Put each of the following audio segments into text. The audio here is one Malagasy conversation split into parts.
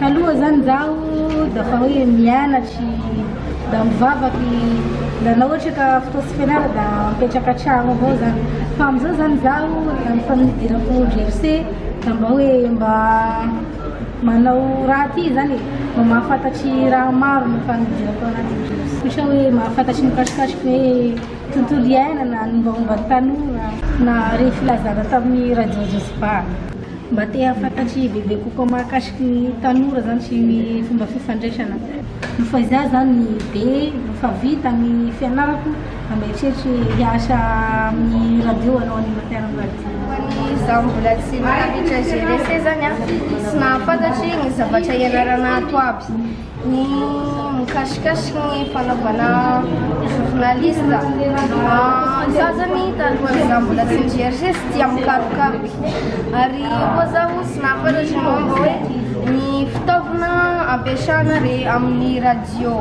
Taloha zany zaho da fa hoe mianatry da mivavaky da na ohatra ka fotoa tsy fianara da mipetraka an-tragno avao zany fa am'zao zany zaho da efa nidirako GFC da mba hoe mba Manao raha aty izany e! Mba mahafantatry raha maro ny fahangidirako ao anatin'ny Jiosy. Ohatra hoe mahafantatry ny mikasikasika ny hoe tontolo iainana, ny mombamomba ny tanora, na ireny filazana tamin'ny radio Jiosy Ba. Mba te hahafantatry bebe kokoa mahakasiky ny tanora izany sy ny fomba fifandraisana. Noho fa izaho izany be efa vita ny fianarako Mieritreritra hiasa amin'ny radio hanao animateur amin'ny radio. Izaho mbola tsy mahavitra gérer sezany an, tsy mahafantatra ny zavatra ianarana ato aby. Ny mikasikasika ny fanaovana journaliste. Izaho izany talohan'izaho mbola tsy nijery sezy tsy tia mikarokaroka. Ary koa izaho tsy nahafantatra ny momba hoe ny fitaovana ampiasana amin'ny radio.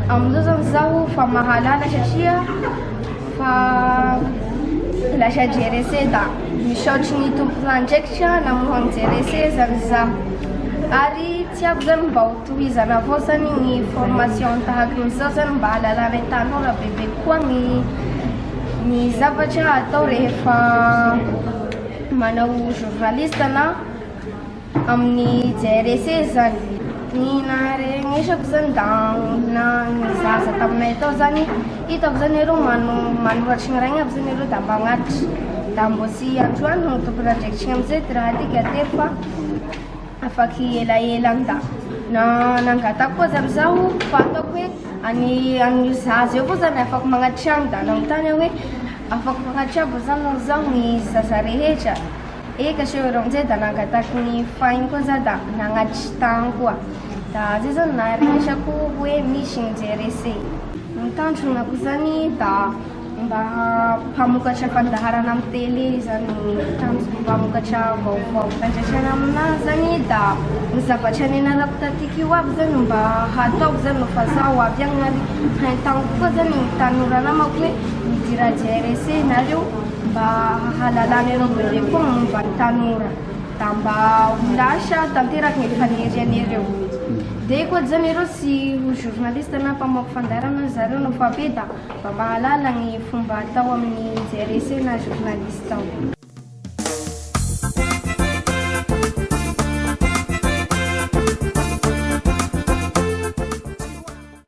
Amin'izao zany zaho fa mahalala satria fa lasa jerese da misaotry ny tompon'andraikitra namohany jerese zany zaho ary tsy ako zany mba ho tohizana avao zany ny formation tahaka izao zany mba halalana ny tanora bebe koa ny ny zavatra atao rehefa manao journaliste na Amin'ny JRS izany. Ny naharenesako izany da olona nizahaza taminay tao izany, hitako izany ireo manoratry ny rainy aby izany ireo da mba agnatitry, da mbô tsy androany no tokony andraikitriny amin'izay ty raha ty ka tery fa afaky elaela any da nangataka koa izany zaho fa ataoko hoe any amin'io zaza io koa izany afaky magnatitry any da nanontany aho hoe afaka magnatitry aby ve izany zaho ny zaza rehetra? Eka sho ireo mzay da nangataky ny fahiny koa za da nagnatitry tany koa da zay zany naharesako hoe misy mzay rese. Ny tanjona ko zany da mba mpamokatra fandaharana am tele zany ny tanjona mpamokatra vaovao. Andraisana aminazy zany da ny zavatra nianarako tatika io aby zany no mba hataoko zany no fa zaho avy agny ary haintagniko koa zany ny tanora namako hoe midira JRSE nareo. mba hahalalan'ireo bebe koa momba ny tanora da mba ho lasa tanteraky ny fanirian'ireo dia koa zany ireo sy ho journaliste na mpamoaka fandaharana zareo no fa be da mba mahalala ny fomba atao amin'ny JRC na journaliste ao.